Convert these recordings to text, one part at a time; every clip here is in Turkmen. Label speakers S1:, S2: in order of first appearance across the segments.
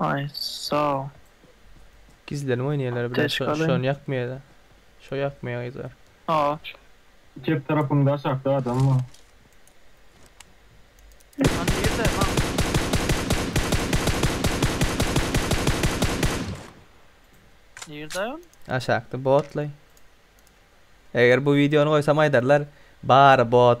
S1: Aý sag. Gizlenip oýnaýalar bile şo Apteczka alayyn. şony ýakmaýada. Şo ýakmaýa gyzlar. Al. Çep tarapyňda aşakda adam bar. A nirde maňa. Nirdaý ol? Aşakda botlaý. Eger bu wideony goýsam aýdarlar bary bot.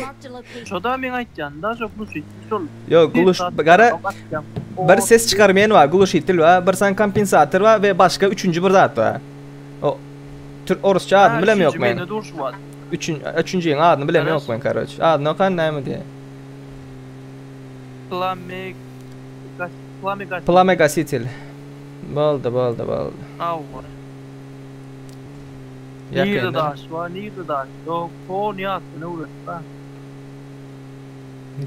S1: Marked a location. Şoda meň aýtýan daşa glushitli şol. Ýok gluş gara bir ses çykarmaýan bar glushitl bar bir sany kompensator bar we başga üçünji bir zat bar. O türk orusça adyny bilem ýok men. Üçin üçünjiň adyny bilem ýok men karoç. Adyny okan näme diýe. Plame plame gas. Plame gasitl. Boldy boldy boldy. Awwa. Nirde daş bar nirde daş yok ton ýatdan öwretme.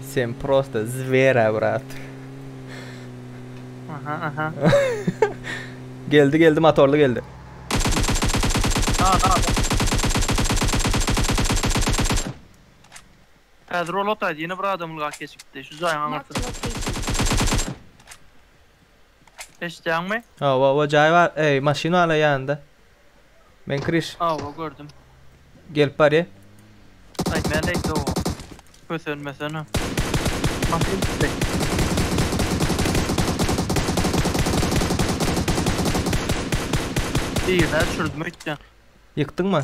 S1: Sen prosta zwera brat. Aha aha. geldi geldi motorly geldi. Na na na. Häzir ol otaýdy ýene bir adam ylgap geçipdi şu jaýyň aňyrsynda. Eşitýäňmi? Hawa hawa jaý bar eý maşyn bar la ýanynda. Men kiriş. Hawa gördüm. Gelip barýa. Aý meleý dogan. Kösenmesene. Maşyn düşdi. Birine düşürdüm öýtýän. Ýykdyňmy?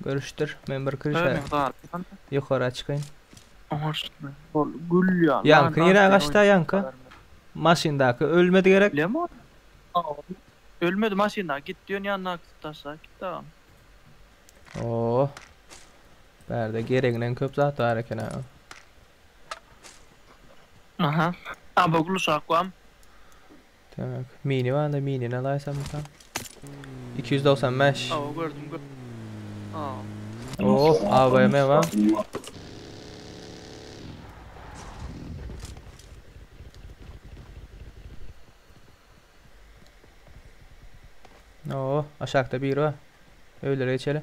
S1: Görüşdir. Men bir kiriş Öne galman. Ýokara çykaýyn. Oştna. Ol gül ýaly. Ýaňky nirä gaçda ýaňky? Maşyndaky ölmedi gerek. Lemon. Ölmedi maşynda. Git diýen ýandaky taşla git dagam. Oo. Bärde gereginden köp zat bar eken ha. Aha. Aba guluşak wam. Demek, mini barda minini alaýsa mysal. Iki ýüz dogsan bäş. Aw gördüm gö. Aw. Oo, AVM bar. Oo, aşakda biri bar. Öýlere geçeli.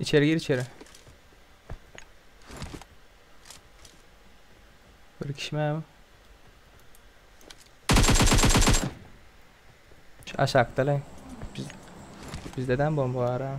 S1: İçeri gir içeri. Bir kişi mi bu? Şu aşakda lan. Biz, bizde de bomba var ha.